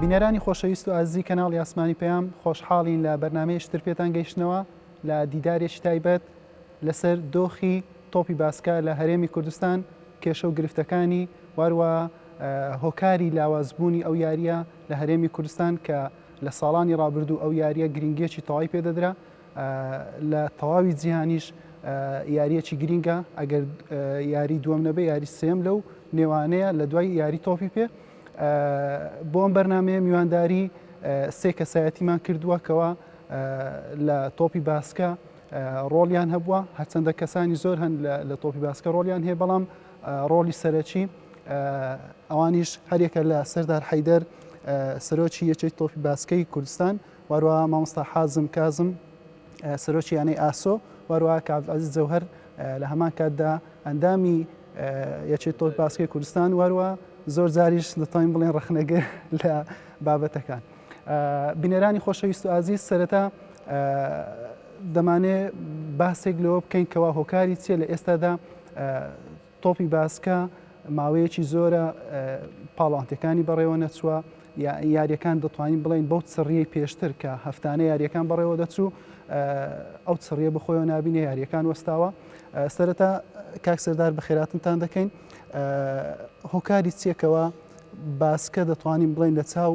بینەرانی خۆشەویست و ئازی کەناڵی ئاسمانی پەیام خۆشحاڵین لە بەرنمەیە شتر پێتان گەیشتنەوە لە دیدارێکی تایبەت لەسەر دۆخی تۆپی باسکە لە هەرێمی کوردستان کێشە و گرفتەکانی واروە هۆکاری لاوازبوونی ئەو یاریە لە هەرێمی کوردستان کە لە ساڵانی رابردوو ئەو یاریە گرنگیەکی تەواوی پێدەدرا لە تەواوی جیهانیش یارییەکی گرینگە ئەگەر یاری دووەم نەبێ یاری سێم لەو نێوانەیە لە دوای یاری تۆپی پێ بۆم بەرنمەیە میوانداری سێ کەسایەتیمان کردووە کەەوە لە تۆپی باسکە ڕۆڵیان هەبووە هەرچەندە کەسانی زۆر هەن لە تۆپی باسکە ڕۆلیان هەیە بەڵام ڕۆلی سەرەکی ئەوانیش هەرێکە لە سەردار حیدەر سەرۆکی یەکێک تۆپی باسکەی کوردستان وەروەها مامۆستا حازم کازم سەرۆکی یانەی ئاسۆ وەروەها کە عەبدولعەزیز جەوهەر لە هەمان کاتدا ئەندامی یەکێت تۆپ باسکەی کوردستان وەروە زۆر جاریش دەتوانین بڵێن ڕخنەگر لە بابەتەکان بینەرانی خۆشەویست و ئازیز سەرەتا دەمانێ باسێک لەوە بکەین کەوا هۆکاری چیە لە ئێستادا تۆپی باسکە ماوەیەکی زۆرە پاڵەوانتەکانی بەڕێوە نەچووە، یاریەکان دەتوانین بڵین بەو چڕیەی پێشتر کە هەفتانە یاریەکان بەڕێوە دەچوو ئەو چڕیە بخۆیەوە نبینە یاریەکان وەستاوە سەرەتا کاک سەردار بەخێراتنتان دەکەین هۆکاری چێکەوە باسکە دەتوانین بڵین لە چاو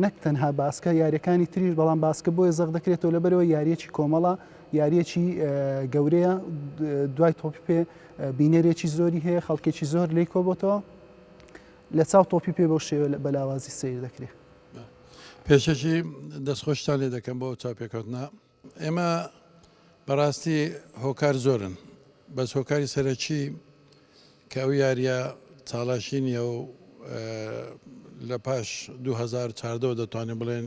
نەک تەنها باسکە یاریەکانی تریش بەڵام باسکە بۆیە زەق دەکرێتەوە لەبەرەوە یاریەکی کۆمەڵە یاریەکی گەورەیە دوای تۆپی پێ بینەرێکی زۆری هەیە خەڵکێکی زۆر لی کۆبتەوە لە چاو تۆپی پێ بەو شێوە بە لاوازی سیر دەکرێت پێشەکی دەستخۆشتان لێ دەکەم بۆ چاپێکەوتنا ئێمە بەڕاستی هۆکار زۆرن بەس هۆکاری سەرەکی کە ئەو یاریە چاڵاشینیە و لە پاش 2014 دەتوانین بڵێن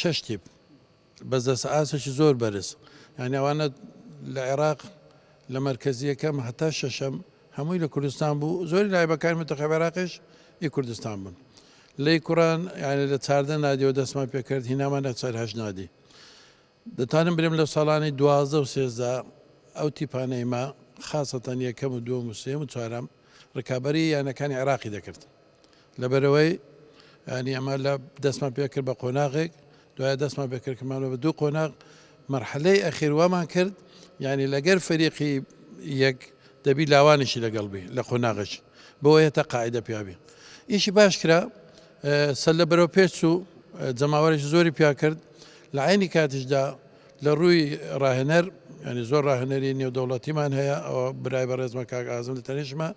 شەش تیپ بەس دەستە ئاستێکی زۆر بەرز یانی ئەوانە لە عێراق لە مەرکەزی یەکەم هەتا شەشەم هەمووی لە کوردستان بوو زۆری لایبەکان متەخەب عێراقش ئی کوردستان بوون لەی کوڕان یانی لە چاردە نادیەوە دەستمان پێکرد هینامان نەچار هەش نادی دەتانم برێم لە ساڵانی دوازدە و سێزدا ئەو تیپانەی ما خاصەتەن یەکەم و دووەم و سێم و چوارەم ڕکابەری یانەکانی عێراقی دەکرد لەبەرئەوەی ینی ئەمە لە دەستمان پێکرد بە قۆناغێک دوای دەستمان پێکردکردمانەوە بە دوو قۆناغ مەرحلەی ئەخیر وامان کرد ینی لەگەر فەریقی یەک دەبی لاوانیشی لەگەڵ بی لە قۆناغش بۆ هێتە قاعدە پیاوی ئیشی باش کرا سەر لە بەرەو پێچ و جەماوەرێکی زۆری پیا کرد لە عینی کاتیشدا لە ڕووی ڕاهێنەر ینی زۆر ڕاهێنەری نێودەوڵەتیمان هەیە ئەوە برای بەڕێزمە کاک ئازم لە تەنیشمە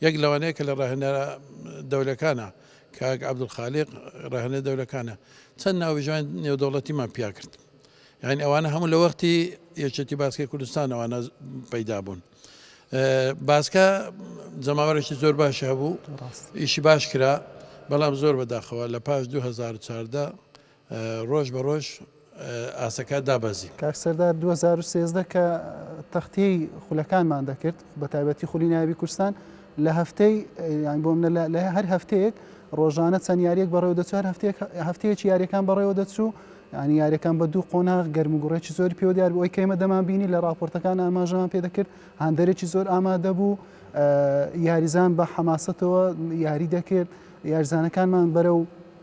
یەک لەوانەیە کە لە ڕاهێنەرە دەولەکانە کاک عبدالخالیق ڕاهێنە دەولەکانە چەند ناوژوان نێودەوڵەتیمان پیا کرد یعنی ئەوانە هەموو لە وەختی یەکێتی باسکی کوردستان ئەوانە پەیدا بوون. باسکە جەماوەێکی زۆر باش هەبوو ئیشی باش کرا بەڵام زۆر بەداخەوە لە پاش 2014 ڕۆژ بە ڕۆژ ئاستەکە دابەزی. کاک سەردار دوو هەزار و سێزدە کە تەختیەی خولەکانمان دەکرد بەتایبەتی خولی نایابی کوردستان لە هەفتەی یان بۆ منە لە هەر هەفتەیەک ڕۆژانە چەند یاریەک بەڕێوە دەچوو هەر هەفتەیەک هەفتەیەکی یاریەکان بەڕێوە دەچوو ینی یاریەکان بە دوو قۆناغ گەرم و گوڕێکی زۆری پێوە دیار بۆی کەیمە دەمان بینی لە راپۆرتەکان ئاماژەمان پێ دەکرد هەندێکی زۆر ئامادە بوو یاریزان بە حەماسەتەوە یاری دەکرد یارزانەکانمان بەرە و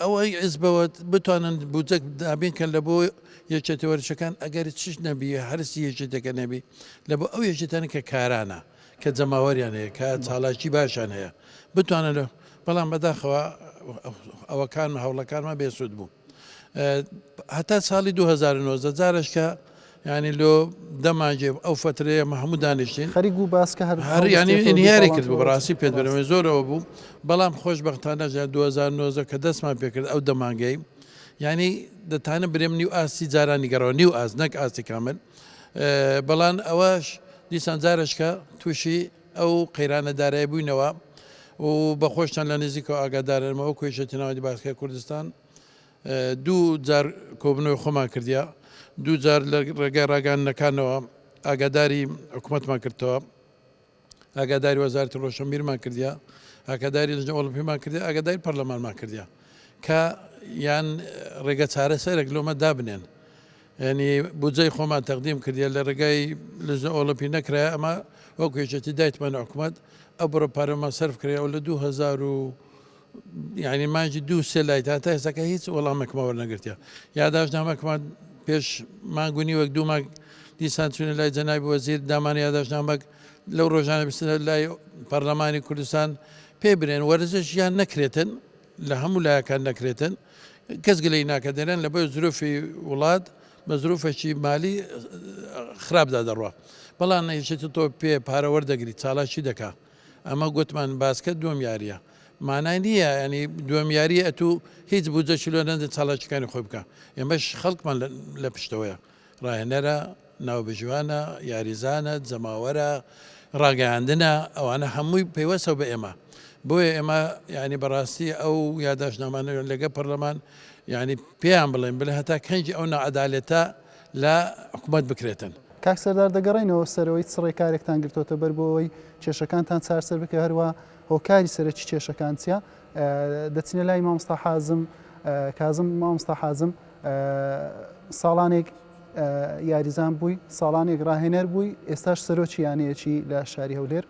ئەوەی حیزبەوە بتوانن بودجە دابین کەن لە بۆ یەکێتە وەرچەکان ئەگەر چش نەبی هەرسی یەکێتەکە نەبی لە بۆ ئەو یەکێتەن کە کارانە کە جەماوەریان هەیە کە چالاکی باشیان هەیە بتوانن لە بەڵام بەداخەوە ئەوەکان هەوڵەکانمان بێسوود بوو هەتا ساڵی 2009 جارش کە یانی لۆ دە مانجێ ئەو فەترەیە مە هەموو دانیشتین. خەریک بوو باس کە هەر هەر یانی هەڵوەستێتەوە دوو ئینهیاری کرد بوو پاڵانتەوە بەڕاستی پێت بەرێز. بەرمێ زۆر ئەوە بوو بەڵام خۆش بەختانە ژە دوو هەزار و نۆزدە کە دەستمان پێ کرد ئەو دە مانگەی یانی دەتانم برێم نیو ئاستی جارانی گەڕاوە نیو ئاست نەک ئاستی کامل ئە بەڵان ئەوەش دیسان جارەشکە تووشی ئەو قەیرانە دارای بووینەوە و بە خۆشتان لە نزیکەوە ئاگادارن مە وە کۆیشەتی ناوەندی باسکە کوردستان دوو جار کۆبوونەوەی خۆمان کردیە، دوو جار لە ڕێگای ڕاگەیاندنەکانەوە ئاگاداری حکومەتمان کردتەوە، ئاگاداری وەزارەتی ڕۆشنبیرمان کردیە، ئاگاداری لجنە ئۆڵمپیمان کردیە، ئاگاداری پەرلەمانمان کردیە کە یان ڕێگە چارەسەرێک لۆمە دابنێن. یعنی بودجەی خۆمان تەقدیم کردیە لە ڕێگای لجنە ئۆڵمپی نەکرایە، ئەمە وەکو یەکێتی دایتمانە حکومەت ئەو بڕە پارەمان سەرف کرایە و لە 2000 و یانی مانگی دوو سێ لای تا تا ئێستاکە هیچ وەڵامێکمان وەرنەگرتیە یاداشتنامەکمان پێش مانگ و نیوەک دوو مانگ دیسان چوونە لای جەنابی وەزیر دامان یاداشتنامەک لەو ڕۆژانە بستنە لای پەرلەمانی کوردستان پێ برێن وەرزش یان نەکرێتن لە هەموو لایەکان نەکرێتن کەس گلەی ناکە دەرێن لە بەر زروفی وڵات بە زروفەکی مالی خراپدا دەڕوە بەڵام نەیشێت تۆ پێ پارەوەەر دەگری چالاکی دەکات ئەمە گۆتمان باسکە دوەم یاریە مانای نییە ینی دوەم یاری ئەتو هیچ بودجە چلۆ نەدە چاڵاکیەکانی خۆی بکە ئێمەش خەڵکمان لە پشتەوەیە ڕاهێنەرە ناوبژیوانە یاریزانە جەماوەرە ڕاگەیاندنە ئەوانە هەمووی پەیوەستەوە بە ئێمە بۆیە ئێمە ینی بەڕاستی ئەو یاداشنامانە لەگە پەرلەمان ینی پێیان بڵێن بلە هەتا کەنجی ئەو نەعادالێتە لە حکومەت بکرێتن. کاک سەردار دەگەڕێینەوە سەرەوەی چ ڕێکارێکتان گرتۆتە بەر بۆ ئەوەی کێشەکانتان چارسەر بکە هەروا هۆکاری سەرەکی کێشەکان چیە دەچنە لای مامستا حازم کازم مامستا حازم ساڵانێک یاریزان بووی ساڵانێک ڕاهێنەر بووی ئێستاش سەرۆکی یانەیەکی لە شاری هەولێر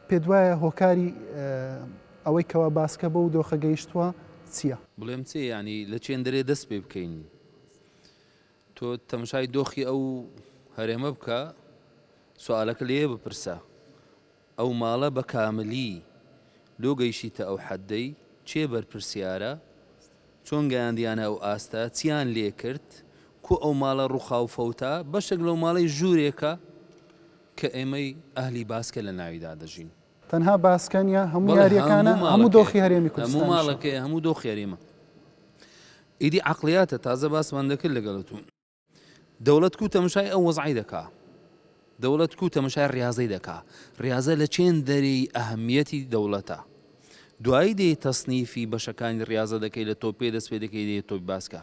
پێ دوایە هۆکاری ئەوەی کەوا باسکە بەو دۆخە گەیشتوە چیە؟ بڵێم چێ یانی لە چێندەرێ دەست پێ بکەین؟ تۆ تەمشای دۆخی ئەو هەرێمە بکە سوالەکە لێ بپرسە ئەو ماڵە بە کاملی لۆ گەیشیتە ئەو حەدەی کێ بەرپرسیارە؟ چۆن گەیاندیانە ئەو ئاستە؟ چیان لێ کرد؟ کو ئەو ماڵە ڕوخا و فەوتا؟ بەشێک لەو ماڵەی ژورێکە کە ئێمەی ئەهلی باسکە لە ناویدا دەژین. تەنها باسکە نیە هەموو یاریەکانە هەموو دۆخی هەرێمی کوردستان ماڵەکەی هەموو دۆ خێریمە ئیدی عقلیاتە تازە باسمان دەکرد لەگەڵت و دەوڵەت کو تەمشای ئەو وەزعی دەکا دەوڵەت کو تەمشای ڕاضەی دەکا ڕاضە لە چێن دەری ئەهمیەتی دەوڵەتە دوایی دێ تەصنیفی بەشەکانی ڕاضە دەکەی لە تۆپێ دەست پێ دەکەی دێ تۆی باسکە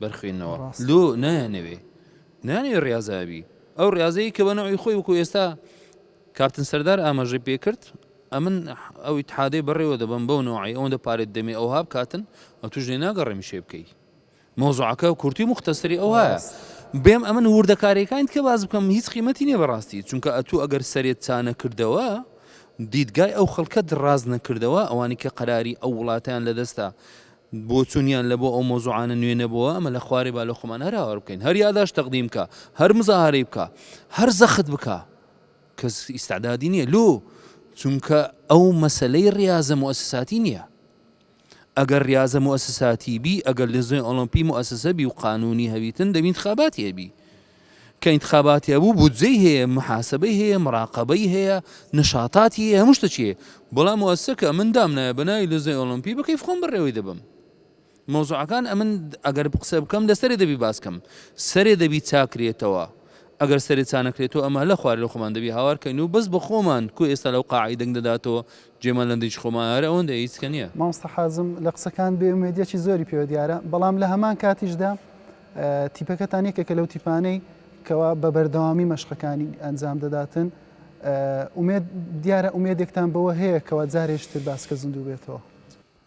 بەرخوێنەوە لۆ نایانەوێ نایانەوێ ڕیازە بی ئەو ڕاضەیە کە بە نەوەی خۆی وەکو ئێستا کاپتن سەردار ئاماژەی پێکرد ئەمن ئەو ئیتحادەی بەڕێوە دەبم بەو نەوەی ئەوەندە پارێت دەمێ ئەو هاب کاتن ئە توش لێ ناگەڕێمی شێ بکەی مۆزعەکە کورتی مختەسری ئەو هەیە بێم ئەمن وردەکارەکان کە باز بکەم هیچ قیمەتی نیە بەڕاستی چونکە ئەتو ئەگەر سەرێت چانە کردەوە دیدگای ئەو خەڵکەت ڕاز نەکردەوە ئەوانی کە قەراری ئەو وڵاتیان لە دەستە بۆچونیان لە بۆ ئەو مەوزوعانە نوێ نەبۆوە ئەمە لە خوارێ با لە خۆمان هەر هاوار بکەین هەر یاداشت تەقدیم بکا هەر مزاهەرەی بکا هەر زەخت بکا کەس ئیستعدادی نییە لۆ چونکە ئەو مەسلەی ڕاضە موسساتی نییە ئەگەر ڕاضە موسساتی بی ئەگەر لە زۆی ئۆلمپی موسسە بی و قانونی هەویتن دەبین خاباتی هەبی کە ئینتخاباتی هەبوو بودجەی هەیە محاسبەی هەیە مراقەبەی هەیە نشاتاتی هەیە هەموو شتەکی هەیە بەڵام موسسەکە من دامنایە بەناوی لزەی ئۆلۆمپی بە کەیف خۆم بەڕێوەی دەبم مۆزوعەکان ئەمن ئەگەر قسە بکەم لەسەرێ دەبی باسکەم سەرێ دەبی چاکرێتەوە ئەگەر سەرێ چانەکرێتەوە ئەمە لە خوارێ لە خۆمان دەبی هاوارکەین و بەس بە خۆمان کو ئێستا لەو قاعی دەنگ دەداتەوە جێمان لەندە هیچ خۆمان ئارە ئەوەندە هیچ کە نیە. مامۆستا حازم لە قسەکانت بێ ئومێدیەکی زۆری پێوە دیارە بەڵام لە هەمان کاتیشدا تیپەکەتان یەکێکە لەو تیپانەی کەوا بە بەردەوامی مەشقەکانی ئەنجام دەداتن ئومێد دیارە ئومێدێکتان بەوە هەیە کەوا جارێکتر باسکە زیندوو بێتەوە.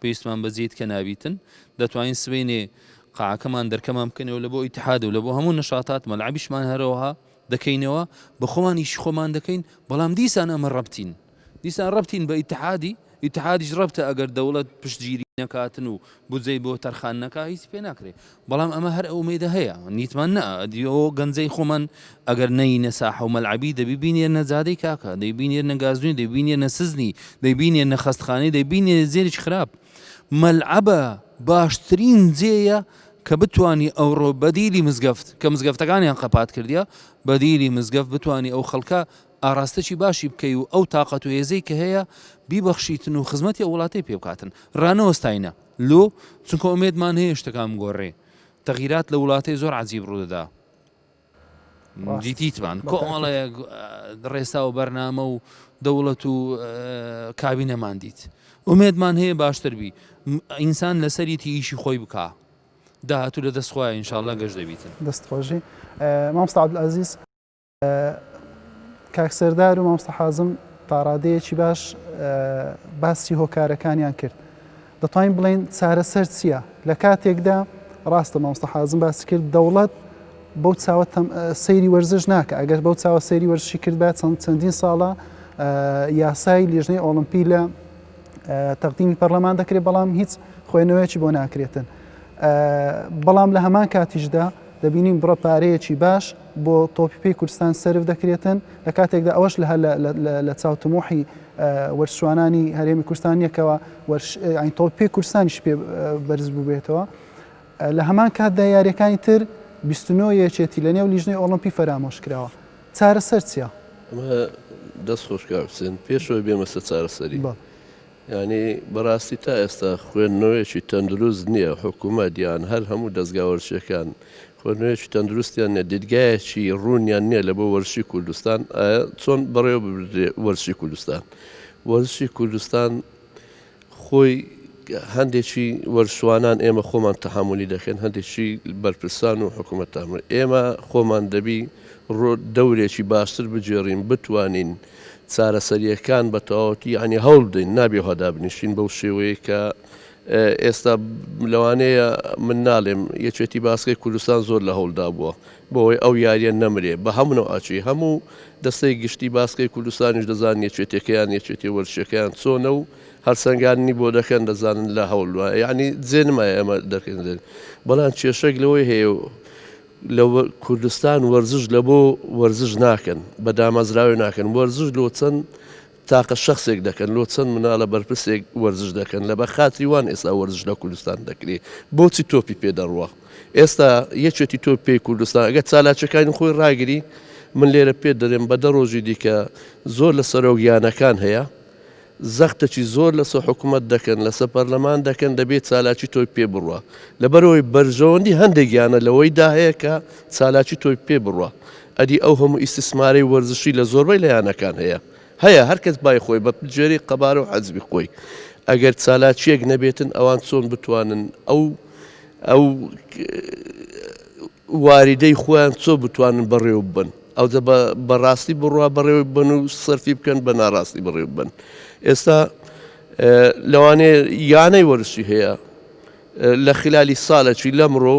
پێویستمان بە جێی تکە نابیتن دەتوانین سبەینێ قاعەکەمان دەرکەمان بکەنەوە لە بۆ ئیتحاد و لە بۆ هەموو نشاتات مەلعبیشمان هەرەوەها دەکەینەوە بە خۆمانیش خۆمان دەکەین بەڵام دیسان ئەمە ڕەبتین دیسان ڕەبتین بە ئیتحادی ئیتحادیش ڕەبتە ئەگەر دەوڵەت پشتگیری نەکاتن و بودجەی بۆ تەرخان نەکا هیچ پێ ناکرێت بەڵام ئەمە هەر ئومێدە هەیە نیتمان نە ئەدی ئەو گەنجەی خۆمان ئەگەر نەینە ساحە و مەلعەبی دەبی بینێرنە جادەی کاکە دەی بینێرنە گازوین دەی بینێرنە سزنی دەی بینێرنە خەستخانەی دەی بینێرنە جێریش خراپ مەلعەبە باشترین جێیە کە بتانی ئەوڕۆ بەدیلی مزگەفت کە مزگەفتەکانیان قەپات کردیا بەدیلی مزگەفت بتانی ئەو خەڵکە ئاراستەی باشی بکەی و ئەو تااقەت و هێزەی کە هەیە بیبەخشیتن و خزمەتی ئەو وڵاتی پێ بکاتن ڕانەوەستاینە لۆ؟ چونکە ئومێدمان هەیە شتەکان بگۆڕێ تەغیرات لە وڵاتێ زۆر عەجیب ڕوودەدا دیتیتمان کۆمەڵەیەک ڕێسا و بەرنامە و دەوڵەت و کابینەمان دیت ئومێدمان هەیە باشتر بی ئینسان لەسەریتی ئیشی خۆی بکە داهاتوو لە دەستخوای ئینشاالله گەشت دەبیتن دەست خۆشی مامستا عبدالعزیز کاک سەردار و مامۆستا حازم تاڕادەیەکی باش باسی هۆکارەکانیان کرد دەتوانین بڵێن چارەسەر چییە لە کاتێکدا ڕاستە مامۆستا حازم باسی کرد دەوڵەت بەو چاوە سەیری وەرزش ناکە ئەگەر بەو چاوە سەیری وەرزشی کردبا چەند چەندین ساڵە یاسای لیژنەی ئۆڵمپی لە تەقدیمی پەرلەمان دەکرێت بەڵام هیچ خوێنەوەیەکی بۆ ناکرێتن بەڵام لە هەمان کاتیشدا دەبینین بڕە پارەیەکی باش بۆ تۆپی پێی کوردستان سەرف دەکرێتن، لە کاتێکدا ئەوەش لە هەر لە چاو تموحی وەرزشوانانی هەرێمی کوردستان نییە کەوا تۆپی پێی کوردستانیش پێ بەرز بووبێتەوە. لە هەمان کاتدا یاریەکانی تر 29 یەکێتی لە نێو لیژنەی ئۆڵمپی فەرامۆش کراوە. چارەسەر چیە؟ دەست خۆش کاک حسێن، پێشەوەی بێمە سەر چارەسەری. یانی بەڕاستی تا ئێستا خوێندنەوەیەکی تەندروست نییە، حکوومەت یان هەر هەموو دەزگا وەرزشیەکان خوێندنەوەیەکی تەندروستیان نیە، دیدگایەکی ڕوونیان نیە لەبۆ وەرزشی کوردستان، ئایە چۆن بەڕێوە ببردرێ وەرزشی کوردستان؟ وەرزشی کوردستان خۆی هەندێکی وەرزشوانان ئێمە خۆمان تەحەمولی دەکەین، هەندێکی بەرپرسان و حکوومەت تەحەمولی، ئێمە خۆمان دەبی ڕۆ دەورێکی باشتر بگێڕین، بتوانین چارەسەرییەکان بە تەواوەتی یانی هەوڵ بدەین، نابێ وا دابنیشین بەو شێوەیەی کە ئێستا لەوانەیە من نالێم یەکێتی باسکەی کوردستان زۆر لە هەولدا بووە بۆەوەی ئەو یاریە نەمرێ بە هەمونەوە ئاچی هەموو دەستەی گشتی باسکەی کوردستانیش دەزان یەکێتەکەیان یەکێتی وەرشەکەیان چۆنە و هەرسەنگاننی بۆ دەکەن دەزانن لە هەولوە یعنی جێنمە ئێمە دەکەین بەڵام کێشەک لەوەی هەیە لە کوردستان وەرزش لە بۆ وەرزش ناکەن بە دامەزراوی ناکەن وەرزش لۆ چەند تاقە شەخسێک دەکەن لۆ چەند منالە بەرپرسێک وەرزش دەکەن لە بە خاتری وان ئێستا وەرزش لە کوردستان دەکرێ بۆچی تۆپی پێ دەڕوا ئێستا یەکێتی تۆ پێی کوردستان ئەگە چالاچەکانی خۆی ڕاگری من لێرە پێ دەرێن بە دە ڕۆژی دیکە زۆر لە سەرۆک یانەکان هەیە زەختەکی زۆر لەسە حکوومەت دەکەن لەسە پەرلەمان دەکەن دەبێت چالاکی تۆی پێ بڕە لەبەرەوەی بەرژەوەندی هەندێک یانە لەوەیدا هەیە کە چالاکی تۆی پێ بڕە ئەدی ئەو هەموو ئیستسمارەی وەرزشی لە زۆربەی لە یانەکان هەیە؟ هەیە، هەر کەس بای خۆی بە جێرەی قەبارە و حەزمی خۆی. ئەگەر چالاکییەک نەبێتن ئەوان چۆن بتوانن ئەو ئەو واریدەی خۆیان چۆ بتوانن بەڕێوە ببەن؟ ئەوجە بە بە ڕاستی بڕوا بەڕێوە ببەن و سەرفی بکەن بە ناڕاستی بەڕێوە ببەن. ئێستا لەوانەیە یانەی وەرزشی هەیە، لە خلالی سالەکی لەمڕۆ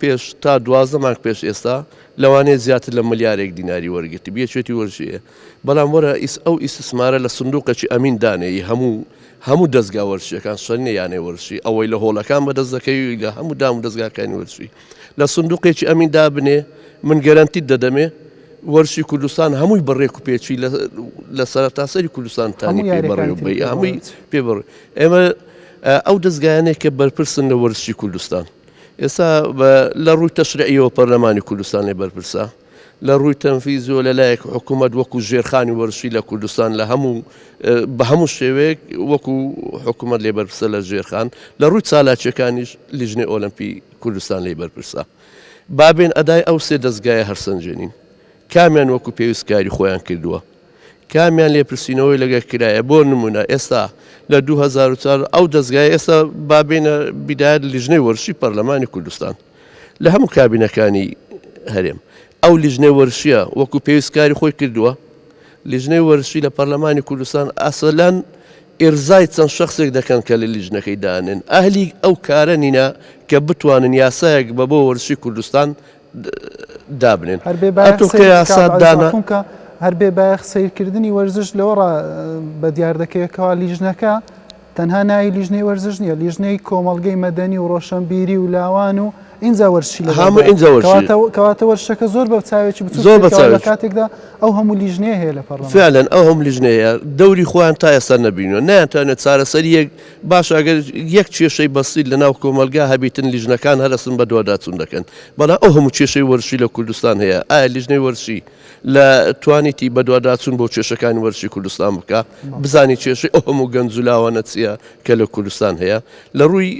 پێش تا دوازدە مانگ پێش ئێستا لەوانەیە زیاتر لە ملیارێک دیناری وەرگرتبی یەکێتی وەرژەیە بەڵام وەرە ئیس ئەو ئیسسمارە لە سندوقەکی ئەمین دانێی هەموو هەموو دەزگا وەرشیەکان سەرنە یانەی وەرشی ئەوەی لە هۆڵەکان بەدەست دەکەوی لە هەموو دام و دەستگاکانی وەرشی لە سندوقێکی ئەمین دابنێ من گەرەنتیت دەدەمێ وەرشی کوردستان هەمووی بەڕێک و پێچی لە سەرتاسەری کوردستان تانی پێ بەڕێ و بەی هەمووی پێ بڕ ئێمە ئەو دەزگایانەی کە بەرپرسن لە وەرزشی کوردستان ئێستا لە ڕووی تەشرعیەوە پەرلەمانی کوردستانی بەرپرسە لە ڕووی تەنفیزیۆ لە لایەک حکوومەت وەکو ژێرخانی وەرشی لە کوردستان لە هەموو بە هەموو شێوەیەک وەکو حکوومەت لێ بەرپسە لە ژێرخان لە ڕووی چالاکیەکانیش لیژنەی ئۆلمپی کوردستان لی بەرپرسە بابێن ئەدای ئەو سێ دەستگایە هەرسەنجێنین کامیان وەکو پێویستکاری خۆیان کردووە کامیان لێپرسینەوەی لەگەر کرایە بۆ نمونە ئێستا لە دوو هەزار و چوار ئەو دەزگای ئێستا با بێنە بیدایەت لیژنەی وەرشی پەرلەمانی کوردستان لە هەموو کابینەکانی هەرێم ئەو لیژنەی وەرشیە وەکو پێویست کاری خۆی کردووە لیژنەی وەرشی لە پەرلەمانی کوردستان ئاسەلەن ئێرزای چەند شخصێک دەکەن کە لە لیژنەکەی دانێن ئەهلی ئەو کارە نینە کە بتوانن یاسایەک بە بۆ وەرشی کوردستان دابنێن ئەتووکە یاسات دانکە. هەر بێ بایەخ سیرکردنی وەرزش لەوە ڕا بە دیار دەکەوێتەوە لیژنەکە تەنها ناوی لیژنەی وەرزش نیە لیژنەی کۆمەلگەی مەدەنی و ڕۆشنبیری و لاوان و ئینجا وەرشی لە هەموو ئینجا کەواتە وەرشەکە زۆر بە چاوێکی بچ زۆر بە لە کاتێکدا ئەو هەموو لیژنەیە هەیە لە پەڕ فعلەن ئەو هەم لیژنەیە دەوری خۆیان تا ئێستا نەبینەوە ناتوانێت چارەسەر یەک باشە ئەگەر یەک کێشەی بەسیت لە ناو کۆمەلگا هەبیتن لیژنەکان هەرەسن بە دواداچون دەکەن بەڵام ئەو هەموو کێشەی وەرشی لە کوردستان هەیە ئایا لیژنەی وەرشی لە توانیتی بە دواداچون بۆ کێشەکانی وەرشی کوردستان بکە بزانی کێشەی ئەو هەموو گەنج و لاوانە چییە کە لە کوردستان هەیە لە ڕووی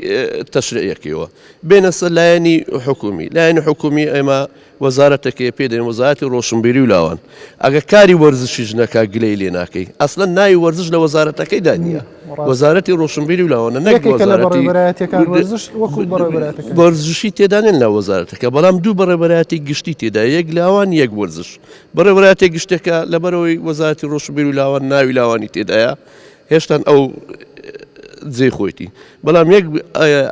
تەشرەیەکەوە بێنەسە لایەنی حکومی لایەنی حکومی ئێمە وەزارەتەکەیە پێی دەین وەزارەتی ڕۆشنبیری و لاوان ئەگەر کاری وەرزشیش نەکا گلەی لێ ناکەی ئەسلەن ناوی وەرزش لە وەزارەتەکەیدا نییە وەزارەتی ڕۆشنبیری و لاوانە نەک یەکێکە لە وەزارەتی بەڕێوەبەرایەتیەکان وەرزش وەکو بەڕێوەبەرایەتەکان وەرزشی تێدانێن لە وەزارەتەکە بەڵام دوو بەڕێوەبەرایەتی گشتی تێدا یەک لاوان یەک وەرزش بەڕێوەبەرایەتی گشتەکە لەبەرەوەی وەزارەتی ڕۆشنبیر و لاوان ناوی لاوانی تێدایە هێشتان ئەو جێی خۆیتی بەڵام یەک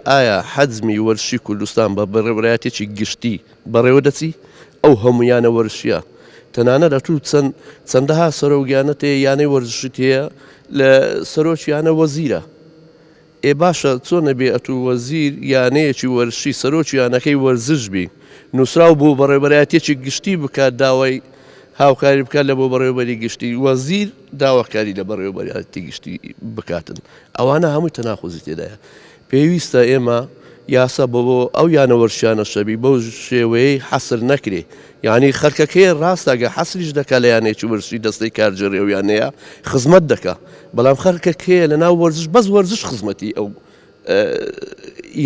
ئایا حەزمی وەرشی کوردستان بە بەڕێبرایەتێکی گشتی بەڕێوە دەچی ئەو هەمویانە وەرشیە تەنانە لە تو چەند چەندەها سەرۆگیانە تێ یانەی وەرزشت هەیە لە سەرۆکیانە وەزیرە ئێ باشە چۆن ئەبێ ئەتوو وەزیر یانەیەکی وەرزشی سەرۆکی یانەکەی وەرزش بی نوسراو بۆ بەڕێوبەرایەتیەکی گشتی بکات داوای هاوکاری بکات لە بۆ بەڕێوبەری گشتی وەزیر داواکاری لە بەڕێوبەرایەتی گشتی بکاتن ئەوانە هەمووی تەناقوزی تێدایە پێویستە ئێمە یاسا بۆ بۆ ئەو یانە وەرشیانە شەبی بەو شێوەیەی حەسر نەکرێ یانی خەرکەکەیە راستە گە حەسریش دەکا لە یانەیەکی وەرزشی دەستەی کار جێڕی ئەو یانەیە خزمەت دەکا بەڵام خەرکە کێیە لە ناو وەرزش بەس وەرزش خزمەتی ئەو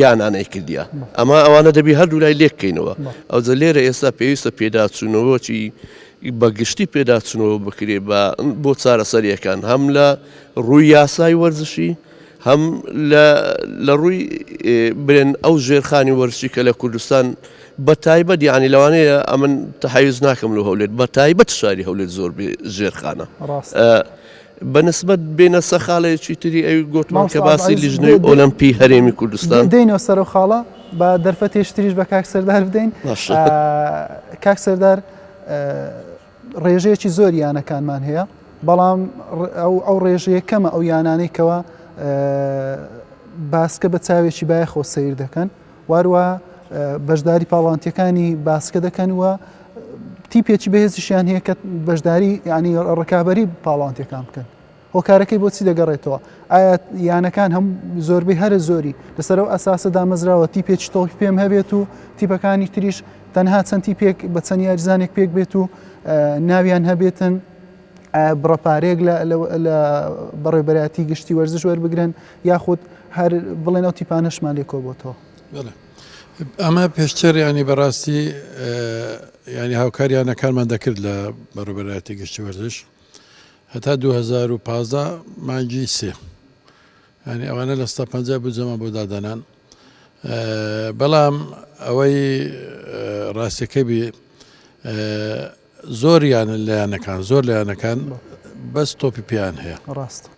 یانانەی کردیا ئەمە ئەوانە دەبی هەردوو لای لێککەینەوە ئەو جە لێرە ئێستا پێویستە پێداچوونەوەی بەگشتی پێداچنەوە بکرێ بە بۆ چارەسەریەکان هەم لە ڕووی یاسای وەرزشی هەم لە ڕووی برێن ئەو ژێرخانی وەرزشی کە لە کوردستان بە تایبەت یعنی لەوانەیە ئەمن تحیز ناکەم لە هەولێت بە تایبەت شاری هەولێت زۆر ژێرخانە بەنسبت بێنە سە خاڵێکی تری ئەوی گوتمان کە باسی لیژنەی ئۆلمپی هەرێمی کوردستان دێنەوە سەر و خاڵە بە دەرفەتێشتریش بە کاک سەردار بدەین کاک سەردار ڕێژەیەکی زۆری یانەکانمان هەیە بەڵام ئەو ڕێژەیە کەمە ئەو یانانەی کەەوە باسکە بە چاوێکی بایەخۆ سیر دەکەن واروە بەشداری پاڵانتیەکانی باسکە دەکەن وە تیپێکی بەهێزیشیان هەیە کە بەشداری ینی ڕکابی پاڵانتەکان بکەن هۆکارەکەی بۆ چی دەگەڕێتەوە؟ ئایا یانەکان هەم زۆربەی هەرە زۆری لەسەر ئەو ئەساسە دامەزراوە تیپێکی تۆپی پێم هەبێت و تیپەکانی تریش تەنها چەند تیپێک بە چەند یاریزانێک پێک بێت و ناویان هەبێتن بڕەپارێک لە بەڕێبەراتی گشتی وەرزش وەربگرن یاخود هەر بڵێن ئەو تیپانەشمان لێ کۆبتەوە ئەمە پێشتر ینی بەڕاستی ینی هاوکاریانەکانمان دەکرد لە بەڕێبەراتی گشتی وەرزش هەتا دوو هەزار و پازدە مانگی سێ ینی ئەوانە لە ستا پەنجا بجەمان بۆ دادەنان بەڵام ئەوەی ڕاستەکە بێ زۆریانە لایەنەکان زۆر لایەنەکان بەس تۆپی پێیان هەیە ڕاستە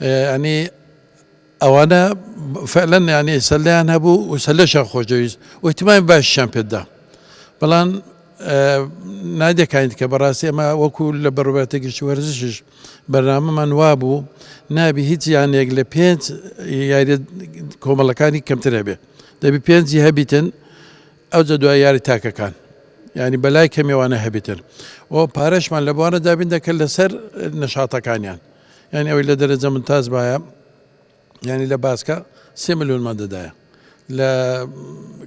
یانی ئەوانە فعلەن یانی سەلیان هەبوو و سەلەشە خۆشەویست وتمای باشیان پێدا بەڵام نادەکانیت کە بەڕاستی ئەمە وەکو لە بەڕوبەتە گشتی وەرزشش بەرنامەمان وابوو نابی هیچ یانێک لە پێنج یاری کۆمەڵەکانی کەمتر هەبێ دەبی پێنجی هەبیتن ئەو جە دوای یاری تاکەکان ینی بەلای کەمێوانە هەبیتن و پارەشمان لە بوارە دابین دەکرد لەسەر نەشاتەکانیان یانی ئەوەی لە دەرەجە ممتاز بایە یانی لە باسکە سێ ملیۆنمان دەدایە لە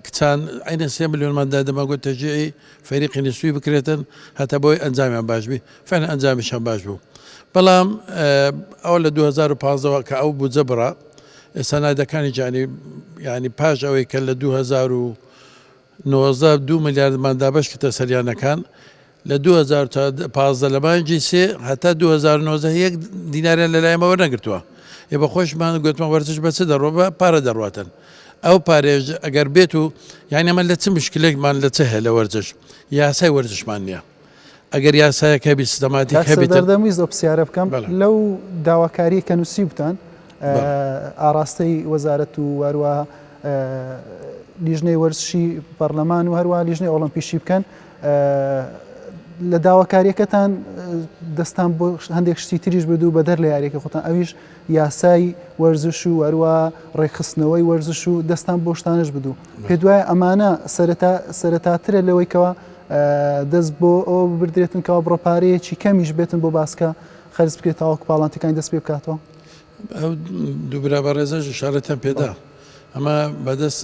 کچان عینە سێ ملیۆنمان دا دەماگوت تەجیعی فەریقی نسوی بکرێتن هەتا بۆی ئەنجامیان باش بی فەن ئەنجامیشان باش بوو بەڵام ئەو لە 2015ەوە کە ئەو بجە بڕە سەنایدەکانی جانی ینی پاش ئەوەی کە لە 2000 نۆزدە دوو ملیاردمان دابەش کردە سەلیانەکان لە دوو هەزار و چواردە تا پازدە لە مانگی سێ هەتا دوو هەزار و نۆزدە یەک دیناریان لە لایەمە وەرنەگرتووە ئێ بە خۆشمان گوتمان وەرزش بە چ دەڕۆ بە پارە دەڕاتن ئەو پارێژ ئەگەر بێت و یعنی ئەمە لە چ مشکلێکمان لە چ هەیە لە وەرزش یاسای وەرزشمان نییە ئەگەر یاسایەک هەبی سیستەماتیک هەبی دەردەم ویست ئەو پرسیارە بکەم لەو داواکاریە کە نووسیوبتان ئاراستەی وەزارەت و واروە لیژنەی وەرزشی پەرلەمان و هەروە لیژنەی ئۆڵمپیشی بکەن لە داواکاریەکەتان دەستان بۆ هەندێک شتی تریش بدو بەدەر لە یاریەکە خۆتان ئەویش یاسای وەرزش و هەروە ڕێکخستنەوەی وەرزش و دەستان بۆشتانش بدو پێ دوای ئەمانە سەرەتاترە لەوەیکەوە دەست بۆ ئەوە ببردرێتن کەوا بڕە پارەیەکی کەمیش بێتن بۆ باسکە خەرج بکرێت تاوەکو پاڵانتەکانی دەست پێ بکاتەوە. ئەو دوو برا بەڕێزەش ئیشارەتیان پێدا ئەمە بەدەست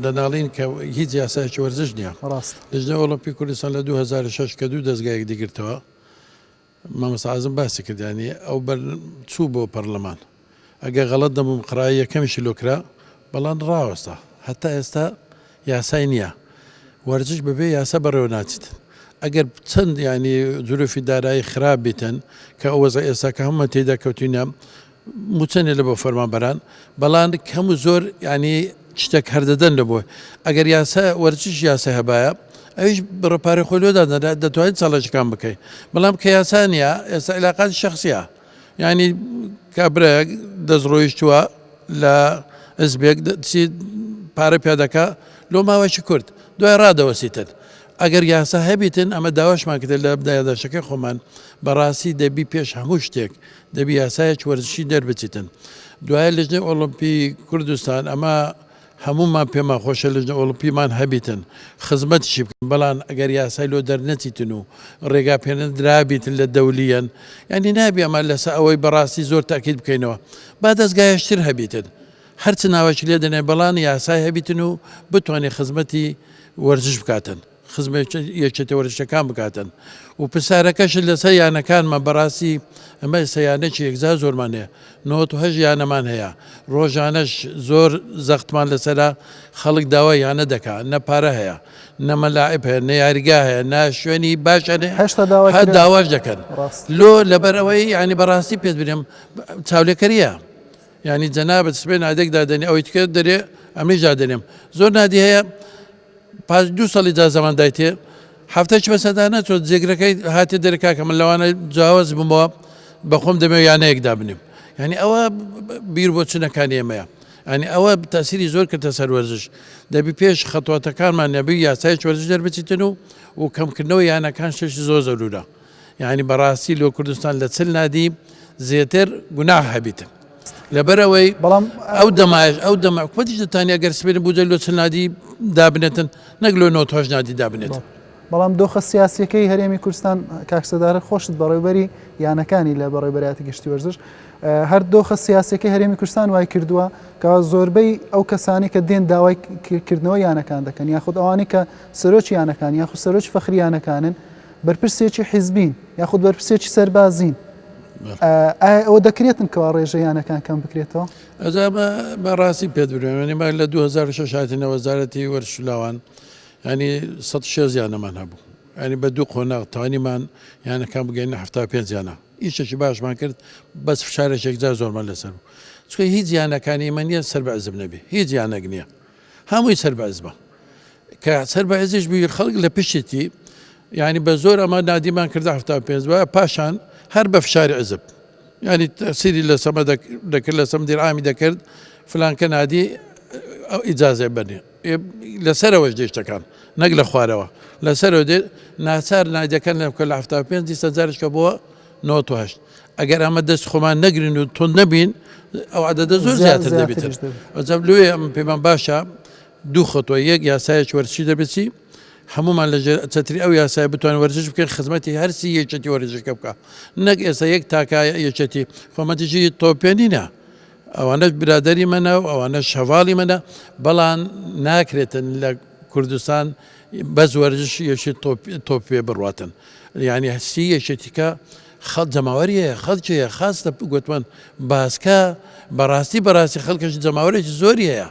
دەناڵین کە هیچ یاسایەکی وەرزش نییە. ڕاستە. لجنە ئۆڵۆمپی کوردستان لە 2006 کە دوو دەزگا یەکدیگرتەوە، مامۆستا عازم باسی کرد یانی ئەو بەر چوو بۆ پەرلەمان ئەگەر غەڵەت نەبم قڕای یەکەمیشی لۆ کرا بەڵام ڕاوەستا هەتا ئێستا یاسای نییە وەرزش بەبێ یاسا بەڕێوە ناچێت ئەگەر چەند یانی زروفی دارایی خراپ بیتن کە ئەو وەزە ئێستا کە هەموومان تێدا کەوتینە موچە نیە لەبۆ فەرمانبەران بەڵان کەم و زۆر یعنی شتێک هەردەدەن لە بۆ ئەگەر یاسا وەرچش یاسا هەبایە ئەویش بڕە پارە خۆی لۆدا دەدا دەتوانین چاڵەشەکان بکەین بەڵام کە یاسانە ئێستا علاقات شخصە یعنی کابرا دەستڕۆیشتووە لە ئەزبێک پارە پیادەکە لۆ ماوەشی کورد دوای ڕادەوەسیتن ئەگەر یاسا هەبیتن ئەمە داواشمان کرد لە بدایداشەکەی خۆمان بەڕاستی دەبی پێش هەموو شتێک دەبی یاسایەک وەرزشی دەربچیتن دوایە لجنەی ئۆڵمپی کوردستان ئەمە هەموومان پێمان خۆشە لجنە ئۆڵمپیمان هەبیتن خزمەتشی بکەن بەڵام ئەگەر یاسای لۆ دەرنەچیتن و ڕێگا پێنە درابیتن لە دەولیەن یعنی نابی ئەمە لەسە ئەوەی بەڕاستی زۆر تاکیت بکەینەوە با دەستگایشتر هەبیتن هەرچ ناوەکی لێ دەنێ بەڵام یاسای هەبیتن و بتوانێ خزمەتی وەرزش بکاتن. خزمەت یەکێتە وەرزشەکان بکاتن و پرسارەکەشت لەسەر یانەکانمە بەڕاستی ئەمە ئێستا یانەکی یەکجار زۆرمان هەیە نۆهەش یانەمان هەیە ڕۆژانەش زۆر زەختمان لەسرە خەڵک داوا یانە دەکات نە پارە هەیە نەمەلاعب هەیە نە یاریگا هەیە نە شوێنی باشە هە داواش دەکەن لۆ لەبەر ئەوەی ینی بەڕاستی پێت برێم چاولێکەریە ینی جەنابەت سبێن ئادێک دادنی ئەوەی تکرد دەرێ ئەمیش دادنێم زۆر نادی هەیە پاش دوو سەلی جا زەمان دایتێ حەفتە چ بەسەدا نەچۆ جێگرەکەی هاتێ دەرێ کاکە من لەوانە جاوەز بمەوە بەخۆم دەمێ یانەیەک دابنێم یعنی ئەوە بیر بۆ چنەکانی ئێمەیە ئەنی ئەوە تاسیری زۆر کردە سەر وەرزش دەبی پێش خەتواتەکانمان نەبی یاسای وەرزش دەربچیتن و و کەمکردنەوە یانەکان شش زۆر زەرورە یانی بەڕاستی لۆ کوردستان لە چل نادی زێتر گوناح هەبیت لەبەرەوەی بەڵام ئەو دەمایش ئەو دەمە کوەتیش دەتانیا گەر سپێن بودە لۆ چل نادی دابنێتن نەک لۆ نۆ تۆش نادی دابنێت. بەڵام دۆخە سیاسەکەی هەرێمی کوردستان کاکسەدارە خۆشت بەڕێوبەری یانەکانی لە بەڕێبەراتی گشتی وەرزش هەر دۆخە سیاسەکەی هەرێمی کوردستان وای کردووە کە زۆربەی ئەو کەسانی کە دێن داوای کردنەوە یانەکان دەکەن یاخود ئەوانی کە سەرۆکی یانەکان یاخود سەرۆکی فەخریانەکانن بەرپرسێکی حیزبین یاخود بەرپرسێکی سەربازین ئایا ئەوە دەکرێتن کەوا ڕێژە یانەکان کەم بکرێتەوە ئەجا بە ڕاستی پێ بروێنی ماگ لە 2006 هاتینە وەزارەتی وەرشلاوان ینی 16 یانەمان هەبوو ئەنی بە دوو قۆناغ توانیمان یانەکان بگەینە هەفتا پێنجیانە ئیشێکی باشمان کرد بەس فشارێکێکجار زۆرمان لەسەر بوو چکە هیچ یانەکانی ئمە نیە سەر بە عزب نەبێ هیچ یانەک نییە هەمووی سەر بە ئەزمە کە سەر بە ئەزیش بیر خەڵک لە پشتێتی یعنی بە زۆر ئەمە نادیمان کرد هەفتا پێ وە پاشان هەر بە فشاری عزب ینی تەسیری لە سەمە دەکرد لە سەم دیرامی دەکرد فلانکە نادی ئەو ئیجاازێ بەنێ لەسەرەوەش دێشتەکان نەک لە خوارەوە لەسەرەوە دێ ناچار نادەکەن لە کە لە هەفتا پێ دیسە جارشکە بووە نۆت و هەشت ئەگەر ئەمە دەست خۆمان نەگرین و تۆ نەبین ئەو عدەدە زۆر زیاتر دەبێتر ئەجاب لێ ئەم پێمان باشە دوو خۆتۆ یەک یاسایەک وەرچی دەبێتی هەمومان لە چەتری ئەو یاسای بتوان وەرزش بکەن خزمەتی هەرسی یەکێتی وەرزشکە بکە نەک ئێستا یەک تاکە یەکێتی خۆمەتیژی تۆپێنینە ئەوانەش برادری منە و ئەوانە شەواڵی منە بەڵام ناکرێتن لە کوردستان بەس وەرزشی یەکێ تۆپ تۆپ پێ بڕواتن یعنی هەستی یەکێتیکە خەڵ جەماوەری هەیە خەڵکی هەیە خاستە گوتمان باسکە بەڕاستی بەڕاستی خەڵکەش جەماوەرێکی زۆری هەیە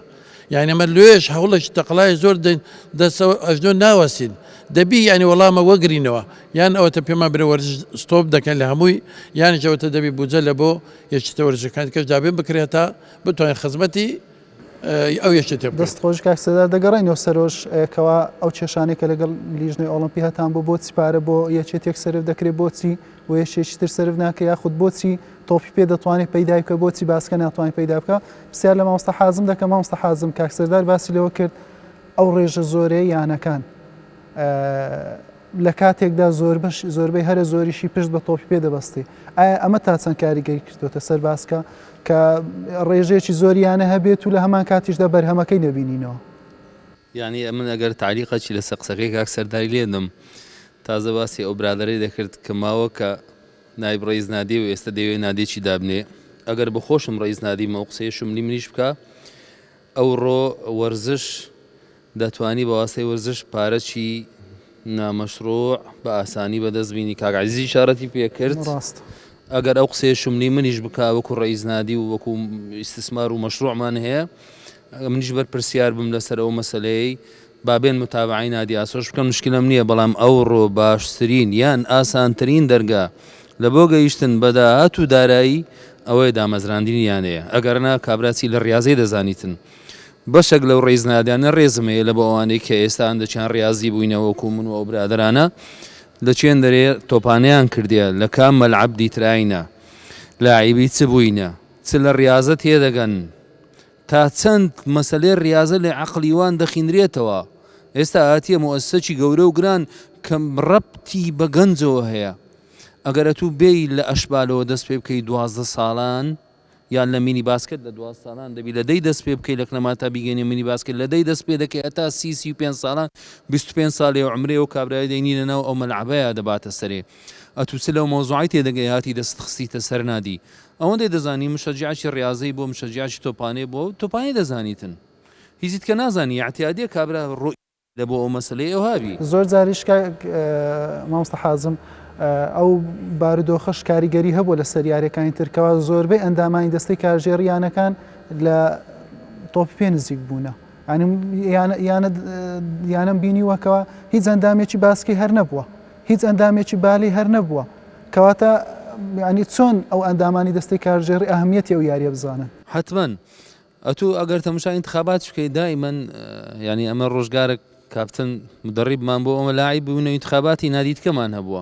یعنی ئەمە لێش هەوڵێکی تەقلای زۆر دەین دەستەوە ئەژنۆ ناوەستین دەبی یعنی وەڵامە وەگرینەوە یان ئەوەتە پێمان برە وەرز ستۆپ دەکەن لە هەمووی یانیشەوەتە دەبی بودجە لە بۆ یەکیتە وەرزەکان کەش دابێن بکرێتە بتوانین خزمەتی ی ئەو یەکێتیە بکرێت. دەست خۆش کاک سێدار، دەگەڕێینەوە سەرۆش کەوا ئەو کێشانەی کە لەگەڵ لیژنەی ئۆڵۆمپی هەتان بۆ بۆچی پارە بۆ یەکێتیەک سەرف دەکرێت بۆچی و یەکێکی تر سەرف ناکرێت یاخود بۆچی تۆپی پێ دەتوانێت پەیدای بکە بۆچی باسکە ناتوانێت پەیدا بکە پرسیار لە مامۆستا حازم دەکەم مامۆستا حازم کاک سێدار باسی لەوە کرد ئەو ڕێژە زۆرەی یانەکان لە کاتێکدا زۆربەش زۆربەی هەرە زۆریشی پشت بە تۆپی پێ دەبەستی، ئایا ئەمە تا چەند کاریگەری کردۆتە سەر باسکە کە ڕێژەیەکی زۆر یانە هەبێت و لە هەمان کاتیشدا بەرهەمەکەی نەبینینەوە؟ یانی ئەمن ئەگەر تاریقەکی لەسەر قسەکەی کاک سەرداری لێدەم تازە باسی ئەو برادەرەی دەکرد کە ماوە کە نایب ڕئیس نادێ و ئێستە دەیەوێ نادێکی دابنێ ئەگەر بەخۆشم ڕئیس نادیم ئەو قسەیە شملی منیش بکا ئەوڕۆ وەرزش دەتوانی بەواستەی وەرزش پارەکی نامەشڕوع بە ئاسانی بەدەست بینی کاک عزیزی شارەتی پێکرد ئەگەر ئەو قسەیە شملی منیش بکا وەکو ڕئیز نادی و وەکو ئیسسمار و مەشروعمان هەیە منیش بەرپرسیار بم لەسەر ئەو مەسلەی با بێن متابەعەی نادی ئاسۆش بکەن مشکلەم نیە بەڵام ئەوڕۆ باشترین یان ئاسانترین دەرگا لە بۆ گەیشتن بە داهات و دارایی ئەوەیە دامەزراندنی یانەیە ئەگەرنا کابرا چی لە ڕیازەی دەزانیتن بەشەک لەو ڕیزنادانە ڕێزم هەیە لە بۆ ئەوانەی کە ئێستا هەندەکیان ڕیازی بووینە وەکو من و ئەو برادەرانە لە چێن دەرێ تۆپانیان کردیە لە کام مەلعەب دیتراینە لاعیبی چ بووینە چ لە ڕیازە تێدەگەن تا چەند مەسەلەی ڕیازە لە عەقڵی وان دەخینرێتەوە؟ ئێستا هاتیە موئەسسەکی گەورە و گران کە ڕەبتی بە گەنجەوە هەیە. ئەگەر ئەتوو بێی لە ئەشبالەوە دەست پێ بکەی دوازدە سالان یان لە مینی باسکت لە دواز سالان دەبی لە دەی دەست پێ بکەی لە کلەما تا بیگەینە مینی باسکت لە دەی دەست پێ دەکەی هەتا سی سی و پێنج سالان بیست و پێنج سالێ و عەمرێ و کابرای دەینی لە ناو ئەو مەلعەبەیا دەباتە سەرێ ئەتوو چ لەو مەوزوعەی تێ دەگەی هاتی دەستت خستیتە سەر نادی ئەوەندەی دەزانی مشەجیعەکی ڕیازەی بوە مشەجیعەکی تۆپانێ بوە و تۆپانێ دەزانیتن هیچیت کە نازانی یەعتیادیە کابرا ڕو ێە بۆ ئەو مەسەلەی ئەوها بی. زۆر جاریش کاک مامۆستا حازم ئەو بارودۆخەش کاریگەری هەبووە لەسەر یاریەکانی تر کەوا زۆربەی ئەندامانی دەستەی کارگێڕی یانەکان لە تۆپی پێ نزیک بوونە یانەم بینیوە کە هیچ ئەندامێکی باسکی هەر نەبووە هیچ ئەندامێکی بالی هەر نەبووە کەواتە ینی چۆن ئەو ئەندامانی دەستی کارژێڕی ئەهمیەتی ئەو یاریە بزانن حتمما ئەتوو ئەگەر تەمشا انتخابات بکەیت دائما ینی ئەمە ڕۆژگارە کاپتن مدەڕیبمان بۆ ئەمە لاعی بوون و انتخاباتی نادیدکەمان هەبووە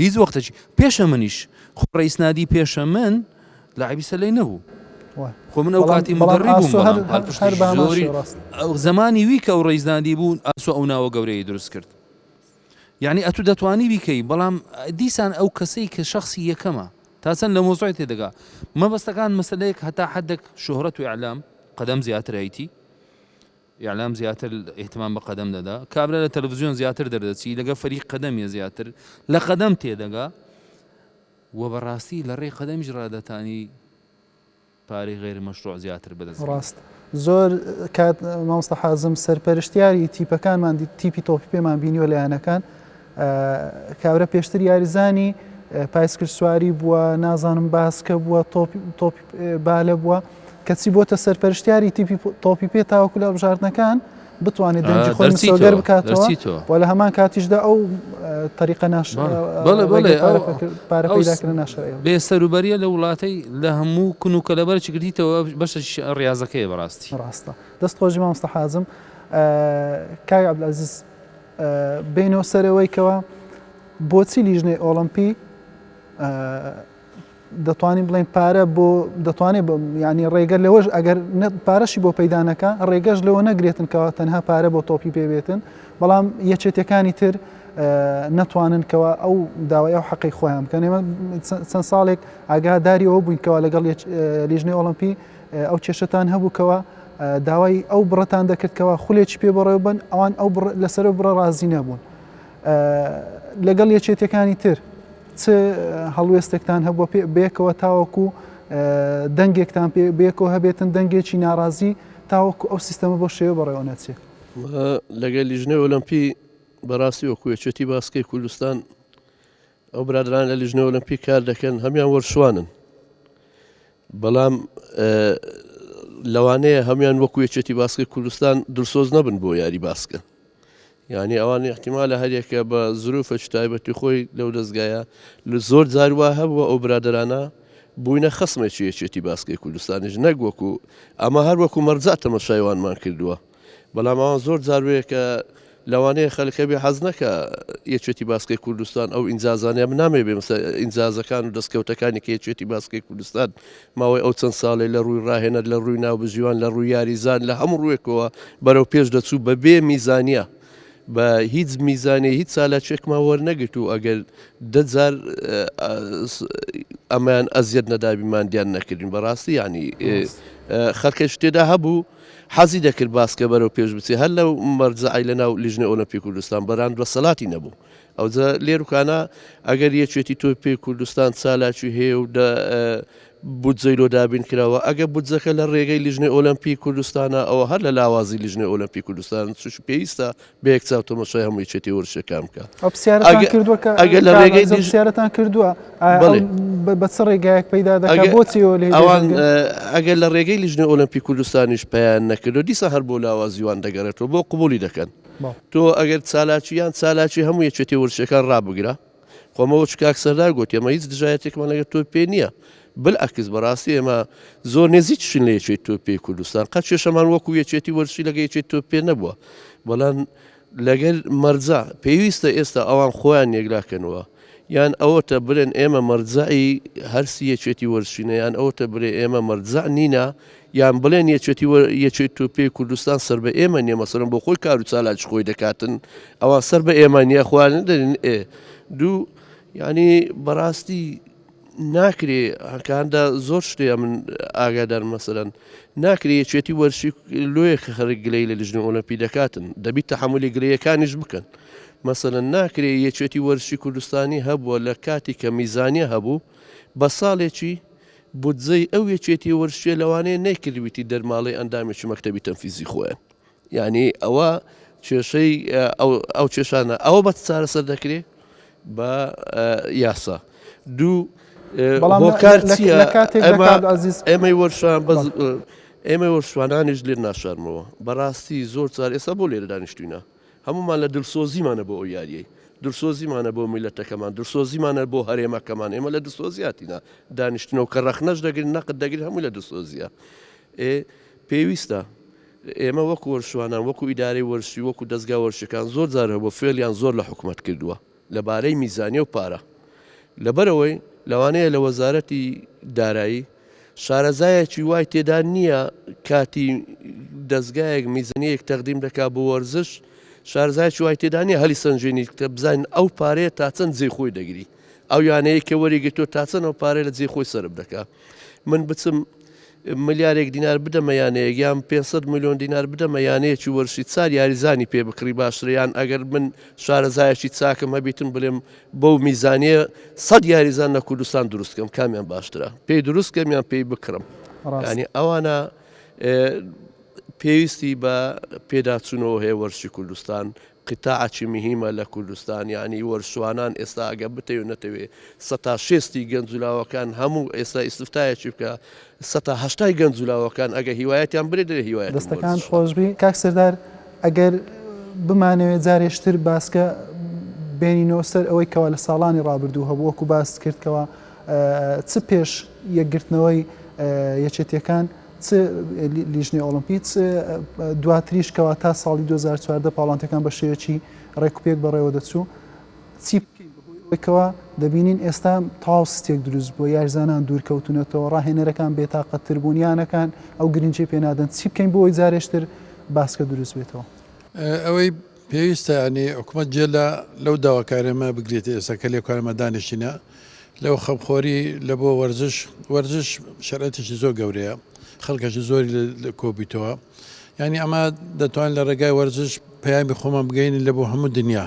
هیچ وەختێکی پێشە منیش خۆ ڕئیس نادی پێشە من لاعبی سەلەی نەبوو خۆ من ئەو کاتی مدەڕی بووم زمانی وی کە ئەو ڕیزدادی بوون ئاسۆ ئەو ناوە گەورەی دروست کرد یعنی ئەتو دەتوانی بیکەی بەڵام دیسان ئەو کەسەی کە شخصی یەکەمە تا چەند لە مۆزای تێدەگا مەبەستەکان مەسلەیەک هەتا حدێک شۆهرەت و ئەعلام قەدەم زیاترایتی ئیعلام زیاتر ئیهتمام بە قەدەم دەدا. کابرا لە تەلەفزیۆن زیاتر دەردەچی، لەگەڵ فەریق قەدەمیە زیاتر لە قەدەم تێدەگا و بەڕاستی لە ڕێی قەدەمیش ڕادەتانی پارەی غەیر مەشروع زیاتر بەدەست بێنێ. ڕاست زۆر کات مامۆستا حازم سەرپەرشتیاری تیپەکانمان تیپی تۆپی پێمان بینیوە لە یانەکان، کابرا پێشتر یاریزانی پایسکلسواری بووە، نازانم باسکە بووە، تۆپی بالە بووە، کەچی بۆتە سەرپەرشتیاری تیپی تۆپی پێ تاوەکو لە هەڵبژاردنەکان بتوانێت دەنگی خۆی مسۆگەر بکاتەوە و لە هەمان کاتیشدا ئەو تەریقە ناش پارەکردن ناش بێ سەروبەریە لە وڵاتی لە هەموو کون و کەلەبەر چگریتەوە بەشە ڕاستەکەی بەڕاستی ڕاستە دەست خۆشی مامۆستا حازم کاک عبدالعزیز بێینەوە سەرەوەی کەوە بۆچی لیژنەی ئۆڵمپی دەتوانین بڵێن پارە بۆ دەتوانێت ینی ڕێگە لەوەش ئەگەر پارەشی بۆ پەیدانەکە ڕێگەش لەوە نەگرێتن کەەوە تەنها پارە بۆ تۆپی پێبێتن بەڵام یەکێتەکانی تر نەتوانن کەەوە ئەو داوای ئەو حەقی خۆیان بکەن ئێمە چەند ساڵێک ئاگاداری ئەو بووینکەوە لەگەڵ لیژنەی ئۆڵمپی ئەو کێشەتان هەبوو کەوا داوای ئەو بڕەتان دەکرد کەوا خولێکی پێ بەڕێوە بن، ئەوان ئەو بڕ لەسەر ئەو بڕە ڕازی نەبوون. لەگەڵ یەکێتیەکانی تر چ هەڵوێستێکتان هەبووە پێ بێکەوە تاوەکو دەنگێکتان پێ بێکەوە هەبێتن دەنگێکی ناڕازی تاوەکو ئەو سیستەمە بۆ شێوە بەڕێوە نەچێت لەگەل لیژنەی ئۆلەمپی بەڕاستی وەکوێچێتی باسکەی کوردستان ئەو برادران لە لیژنە ئۆلمپی کار دەکەن هەمیان وەرشوانن بەڵام لەوانەیە هەمیان وەکو یەکێتی باسکە کوردستان دلسۆز نەبن بۆ یاری باسکە یعنی ئەوان احتیما لە هەریەکە بە زروفە تایبەتی خۆی لەو دەستگایە لە زۆر جاروا هەبووە ئەو برادرانە بووینە خسمێکی یەکێتی باسکەی کوردستانیش نەک وەکو ئەمە هەر وەکو مەرجات تەمەشایوانمان کردووە بەڵام ئەوان زۆر جار وەیە کە لەوانەیە خەلک هەبێ حەز نەکە یەکێتی باسکەی کوردستان ئەو ئینجازانە بنامێ بێ مسە ئینجازەکان و دەستکەوتەکانی کە یەکێتی باسکەی کوردستان ماوەی ئەو چەند ساڵێ لە ڕووی ڕاهێنەر لە ڕووی ناوبژیوان لە ڕووی یاریزان لە هەموو ڕوێکەوە بەرەو پێش دەچوو بە بێ میزانە. بە هیچ میزانێ هیچ سالاچێکمان وەرنەگرت و ئەگەر دەجار ئەمان ئەزیەت نەدابیمان دیان نەکردین بەڕاستی ینی خەکەش تێدا هەبوو حەزی دەکرد باسکە بەرەو پێش بچێ هەر لەو مەرجەعی لە ناو لیژنەی ئۆلەمپی کوردستان بەران دەسەلاتی نەبوو ئەوجە لێروکانە ئەگەر یەکێتی تۆی پێی کوردستان چالاکی هەیە و بودجەی لۆ دابین کراوە ئەگە بودجەکە لە ڕێگەی لیژنەی ئۆلەمپی کوردستانە ئەوە هەر لە لاوازی لیژنەی ئۆلەمپی کوردستان چش پێویستە بە یەک چاو تەمەشای هەموو یەکێتی وەرزشەکان بکە ئەو پرسیارەتان کردووە کە ئەگە لە ڕێگەی دیش- پرسیارەتان کردووە ئایا بەڵێ. ئەو بە- بە چ ڕێگایەک پەیدا دەکات ئەگە- بۆچی ئەوە لێ ئەوان دەگەن؟ ئە، ئەگەر لە ڕێگەی لیژنەی ئۆلەمپی کوردستانیش پەیان نەکردو دیسان هەر بۆ لاوازی وان دەگەڕێتەوە بۆ قبوڵی دەکەن بەڵێ. تۆ ئەگەر چالاکی یان چالاکی هەموو یەکێتی وەرزشەکان ڕابگرە قۆمە وچ کاک سەردار گۆتی ئەمە هیچ دژایەتێکمان لەگە تۆ پێ نییە بلعکس بەڕاستی ئێمە زۆر نێزیکشین لە یەکێت تۆ پێی کوردستان قەت کێشەمان وەکو یەکێتی وەرشی لەگە یەکێت تۆ پێ نەبووە بەڵام لەگەل مەرجا پێویستە ئێستا ئەوان خۆیان یەکلاکەنەوە یان ئەوەتە برێن ئێمە مەرجعی هەرسی یەکێتی وەرشینە یان ئەوتە برێ ئێمە مەرجع نینە یان بڵێن یەکێتی و یەکێت و پێی کوردستان سەر بە ئێمە نیە مەسەرم بۆ خۆی کار و چالاکی خۆی دەکاتن ئەوان سەر بە ئێمە نیە خوارن دەرن ئێ دوو ینی بەڕاستی ناکرێ هەکاندا زۆر شتێ من ئاگادار مەسەرەن ناکرێ یەکێتی وەرشی لۆیە کە خەرک گلەی لە لژنی ئۆلمپی دەکاتن دەبی تحملی گرەکانیش بکەن مەسەن ناکرێ یەکێتی وەرشی کوردستانی هەبووە لە کاتی کە میزانە هەبوو بە ساڵێکی بودجەی ئەو یەکێتی ورچیە لەوانەیە نەیکردبیتی دەرماڵەی ئەندامێکی مەکتەبی تەنفیزی خۆیان یانی ئەوە کێشەی ئەو کێشانە ئەوە بە چارەسەر دەکرێت بە یاسا دوو ئێمەی وەرشان ئێمە وەرشوانانیش لێ ناشارمەوە بەڕاستی زۆر چار ئێستا بۆ لێرە دانیشتوینە هەموومان لە دلسۆزیمانە بۆ ئەو یاریەی، دلسۆزیمانە بۆ میللەتەکەمان، دلسۆزیمانە بۆ هەرێمەکەمان، ئێمە لە دلسۆزی هاتینە دانیشتنەوە، کە رەخنەش دەگرین، نەقد دەگرین، هەمووی لە دلسۆزیە. ئێ پێویستە ئێمە وەکو وەرزشوانان، وەکو ئیدارەی وەرزشی، وەکو دەزگا وەرزشیەکان، زۆر جار هەبووە فێڵیان زۆر لە حکومەت کردووە، لەبارەی میزانیە و پارە، لەبەرئەوەی لەوانەیە لە وەزارەتی دارایی شارەزایەکی وای تێدا نییە کاتی دەزگایەک میزنیەیەک تەقدیم دەکا بۆ وەرزش شارەزایەکی وای تێدا نییە هەلی سەنجێنی کە بزانین ئەو پارەیە تا چەند جێی خۆی دەگری ئەو یانەیە کە وەریگرتووە تا چەند ئەو پارەیە لە جێی خۆی سەرف دەکا. من بچم ملیارێک دینار بدەمە یانەیەک یان 500 میلیۆن دینار بدەمە یانەیەکی وەرشی چار یاریزانی پێ بکڕی باشتریان ئەگەر من شارەزایەکی چاکم هەبیتم بڵێم بەو میزانە سەد یاریزان لە کوردستان دروستکەم کامیان باشترە پێی دروستکەم یان پێی بکڕم ڕانی ئەوانە پێویستی بە پێداچوونەوە هەیە وەرشی کوردستان قطاع چی مهیمە لە کوردستان یانی وەرچوانان ئێستا ئەگە بتەوێ نەتەوێ سەتا شێستی گەنج و لاوەکان هەموو ئێستا ئیستفتایەکی بکە سەتا هەشتای گەنج و لاوەکان ئەگە هیوایەتیان برێ دەێ هیوایەت دەستەکان خۆشبی کاک سردار ئەگەر بمانەوێت جارێشتر باسکە بێنینەوە سەر ئەوەی کەوا لە ساڵانی ڕابردوو هەبوو وەکو باست کردکەوە چ پێش یەکگرتنەوەی یەکێتیەکان چ لیژنەی ئۆڵۆمپی چ دواتریش کەوا تا ساڵی 2014 پاڵانتەکان بە شێوەیەکی ڕێکوپێک بەڕێوە دەچوو چی بکەین بەهۆیەوەیکەوە دەبینین ئێستا تاو ستێک دروست بووە یارزانان دوورکەوتونەتەوە ڕاهێنەرەکان بێتاقەتتر بوون یانەکان ئەو گرنگی پێنادەن چی بکەین بۆی جارێشتر باسکە دروست بێتەوە ئەوەی پێویستە یانی حکومەت جێ لە لەو داواکاریەمە بگرێتە ئێستا کە لێ کارمە دانیشتینە لەو خەمخۆری لە بۆ وەرزش وەرزش شەرەتێکی زۆر گەورەیە خەڵکەشی زۆری لە کۆبیتەوە یعنی ئەمە دەتوان لە ڕێگای وەرزش پەیامی خۆمان بگەین لە بۆ هەموو دنیا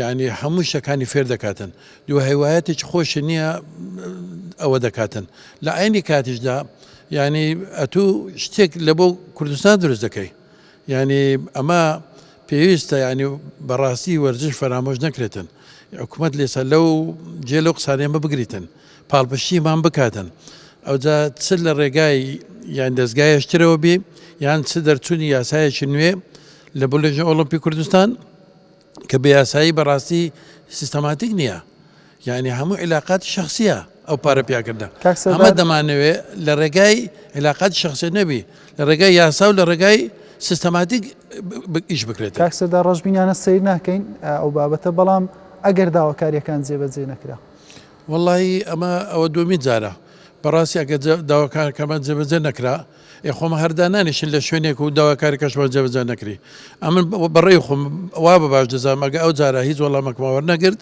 یانی هەموو شتەکانی فێر دەکاتن دوو هیوایەتێکی خۆشی نییە ئەوە دەکاتن لە ئاینی کاتیشدا یعنی ئەتو شتێک لە بۆ کوردستان دروست دەکەی یعنی ئەمە پێویستە ینی بەڕاستی وەرزش فەرامۆش نەکرێتن حکوومەت لێسا لەو جێ لەو قسانێمە بگریتن پاڵپشتیمان بکاتن ئەوجا چ لە ڕێگای یان دەستگایشترەوە بێ یان چ دەرچوونی یاسایەکی نوێ لە بلژە ئۆلمپی کوردستان کە بە یاسایی بەڕاستی سیستەماتیک نییە یعنی هەموو علااقات شخصیە ئەو پارە پیاکردە ئەمە دەمانەوێ لە ڕێگای علااقات شخصێت نەبی لە ڕێگای یاسا و لە ڕێگای سیستەماتیک ئیش بکرێت تاکسەدا ڕژبینانە سیر ناکەین ئەو بابەتە بەڵام ئەگەر داواکاریەکان جێبەجێ نەکرا وڵی ئەمە ئەوە دومی جارە بەڕاستی ئەگە داواکارکەمان جێبەجێ نەکرا ئێ خۆ مە هەر دانانیشن لە شوێنێک و داواکاری کەشمان جێبەجێ نەکری ئەمن بەڕێی خۆم وا بە باش دەزانم ئەگە ئەو جارە هیچ وەڵامەکمان وەرنەگرت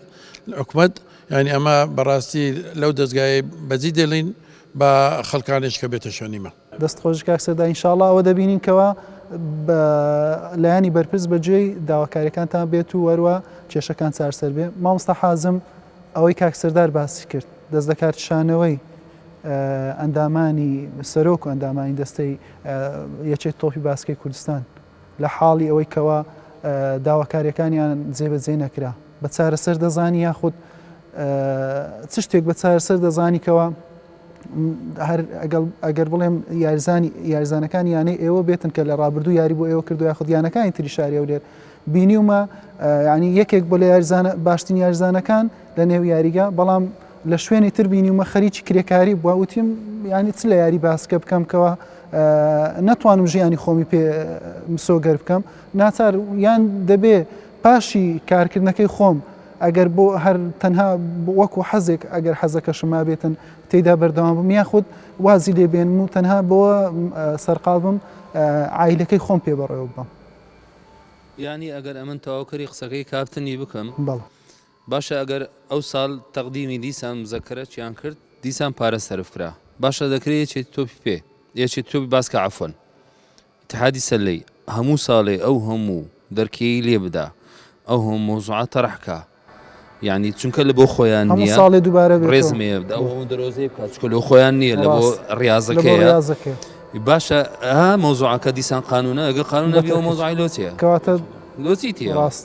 حکومەت یعنی ئەمە بەڕاستی لەو دەستگای بەجی دێڵین بە خەڵکانێش کە بێتە شوێنیمە دەست خۆش کاک سەردا ئینشاءاللە ئەوە دەبینین کەوا بە لایەنی بەرپرس بەجێی داواکاریەکانتان بێت و وەروە کێشەکان چارسەر بێ مامۆستا حازم ئەوەی کاک سەردار باسی کرد دەست لەکارکشانەوەی ئەندامانی سەرۆک و ئەندامانی دەستەی یەکێتی تۆپی باسکەی کوردستان لە حاڵی ئەوەی کەوا داواکاریەکانیان جێبەجێ نەکرا بە چارەسەر دەزانی یاخود چ شتێک بە چارەسەر دەزانی کەوا هەر ئەگەر بڵێم یارزانی یارزانەکان یانەی ئێوە بێتن کە لە ڕابردوو یاری بۆ ئێوە کردو یاخود یانەکانی تری شاری ئەولێر بینیومە ینی یەکێک بۆ لە یارزانە باشترین یارزانەکان لە نێو یاریگە بەڵام لە شوێنی تر بینیومە خەریکی کرێکاری بووە وتیم یانی چ لە یاری باسکە بکەم کەەوە نەتوانم ژیانی خۆمی پێ مسۆگەر بکەم ناچار یان دەبێ پاشی کارکردنەکەی خۆم ئەگەر بۆ هەر تەنها وەکو حەزێک ئەگەر حەزەکەشم ما بێتن تێدا بەردەوام بم یا خودت وازی لێبێن و تەنها بۆ سەرقال بم ئایلەکەی خۆم پێ بەڕێوە بم ینی ئەگەر ئەمن تەواوکەری قسەکەی کاپتنی بکەم بەڵ باشە ئەگەر ئەو سال تەقدیمی دیسان مزەکەرە چیان کرد دیسان پارە سەرف کرا باشە دەکرێ یەکێتی تۆپی پێ یەکێتی تۆپی باسکە عەفوەن اتحادی سلەی هەموو سالێ ئەو هەموو دەرکێی لێ بدا ئەو هەموو مەوزوعە تەڕح کا یانی چونکە لە بۆ خۆیان هەموو نیە ساڵێ دووبارە بێتەوە. ڕێزم هەیە بدا ئەو هەموو دەرۆزەی بکات چونکە لە خۆیان نیە لە بۆ ڕاست. لە بۆ ڕیازەکەیە ڕیازەکەیە. باشە ها مەوزوعەکە دیسان قانونە ئەگەر قانون نەبی ئەو مەوزوعەی لۆ چیە کەواتە لۆ چی تیە ڕاست.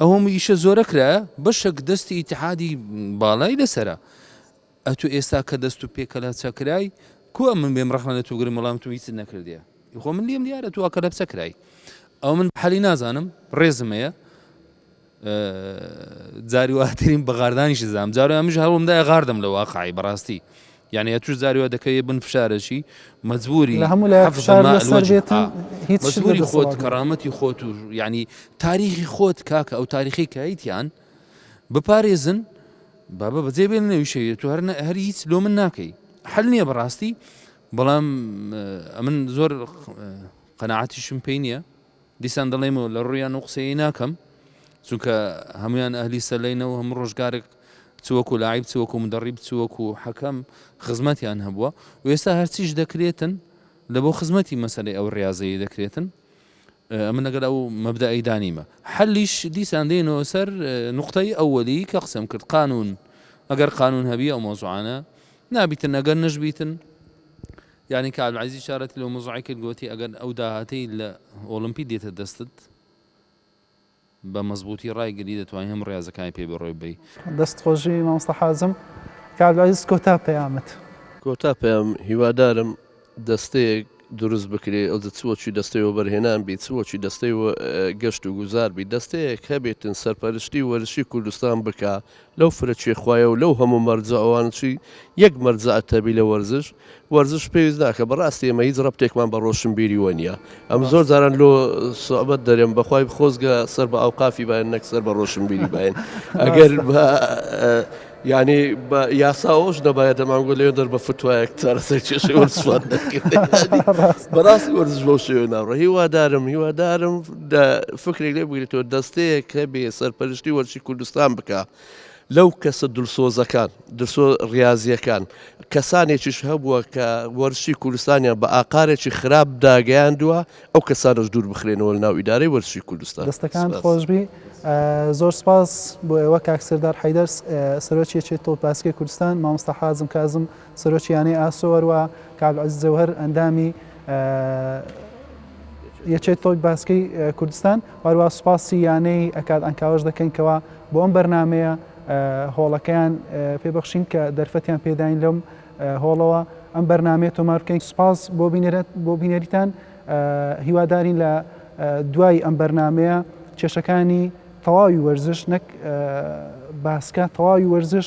ئەو هەموو ئیشە زۆرە کرایە بەشەک دەستی ئیتحادی باڵای لەسرە ئەتو ئێستا کە دەست و پێکەلا چەکرای کو من بێم ڕحمە لە توگرم وەڵام تو هیچ نەکردە خۆ من لیم دیارە تو ئەکە لە بچەکرای ئەو من حەلی نازانم ڕێزمەیە جارواترین بەغاردانیش زانام جارو ئەمش هەوڵمدا غاردم لە واقعی بەڕاستی یانی ئەتوش جاری وا دەکەویە بن فشارەکی مەجبوری حەفزە ماء الوجه ئا مەجبوری خۆت کەرامەتی خۆت و یانی تاریخی خۆت کاکە ئەو تاریخی کەیتیان بپارێزن بابە بەجێ بێن نەوی شەویە تو هەر هەر هیچ لۆ من ناکەی حل نییە بەڕاستی بەڵام ئەمن زۆر قەنەعاتیشم پێی نییە دیسان دەڵیم و لە ڕوویان و قسەیی ناکەم، چونکە هەموویان ئەهلی سەلەینە و هەموو ڕۆژگارێک چ وەکوو لاعیب، چ وەکوو مدەڕیب، چ وەکوو حەکەم خزمەتیان هەبووە و ئێستا هەرچیش دەکرێتن لە بۆ خزمەتی مەسەلەی ئەو ڕیازەیە دەکرێتن، ئەمن لەگەل ئەو مەبدەئەیدا نیمە. حەلیش دیسان دێینەوە سەر نوقتەی ئەوەلی کە قسەم کرد، قانوون، ئەگەر قانوون هەبی ئەو مەوزوعانە نابیتن، ئەگەر نەشبیتن یانی کە عەلعەزیز چارەتی لەو مزڕەی کرد گۆتی، ئەگەر ئەو داهاتەی لە ئۆڵمپی دێتە دەستت بە مەزبووتی ڕایگری دەتوانی هەموو ڕێازەکانی پێ بەڕێوە ببەی. دەست خۆش جی مامۆستا حازم. کاک عەبدولعەزیز کۆتا پەیامت. کۆتا پەیام، هیوادارم دەستەیەک دروست بکرێ ئەوجە چ وەچی دەستەی وەبەرهێنان بی چ وەچی دەستەی گەشت و گوزار بی دەستەیەک هەبێتن سەرپەرشتی وەرزشی کوردستان بکا لەو فرە چێ خوایە و لەو هەموو مەرجە ئەوانە چی یەک مەرجە ئەتەبی لە وەرزش وەرزش پێویست ناکە بەڕاستی ئێمە هیچ ڕەبتێکمان بە ڕۆشنبیری وە نیە ئەم زۆر جاران لۆ سوعبەت دەرێم بەخوای خۆزگە سەر بە ئاوقافی باێن نەک سەر بە ڕۆشنبیری باێن ئەگەر بە یانی بە یاسا ئەوش نەبایە دەمانگۆ لەێ دەر بە فتوایەک چارەسەر کێشەی وەرزشمان دەکرد بەڕاستی وەرزش بەو شێوێ ناڕۆ هیوادارم هیوادارم دا فکرێک لێ بگریتەوە دەستەیەک هەبێ سەرپەرشتی وەرزشی کوردستان بکا لەو کەسە دلسۆزەکان درسۆ ڕاضیەکان کەسانێکیش هەبووە کە وەرزشی کوردستانیان بە ئاقارێکی خراپ داگەیاندووە ئەو کەسانش دوور بخرێنەوە ناو ئیدارەی وەرزشی کوردستان دەستەکان خۆشبی زۆر سپاس بۆ ئێوە کاکسەردار حیدەرس سەرۆکی چێت تۆ پاسکی کوردستان مامۆستا حازم کازم سەرۆکی یانەی ئاسۆ هەروەها کاک عەزیز جەوهەر ئەندامی یەکێت تۆی باسکەی کوردستان هەروە سوپاسی یانەی ئەکاد ئەنکاوەش دەکەین کەوا بۆ ئەم بەرنمەیە هۆڵەکەیان پێبخشین کە دەرفەتیان پێداین لەم هۆڵەوە ئەم بەرنمەیە تۆمارکەین سوپاس بۆ بینێرت بۆ بینەریتان هیوادارین لە دوای ئەم بەرنمەیە کێشەکانی تەواوی وەرزش نەک باسکە تەواوی وەرزش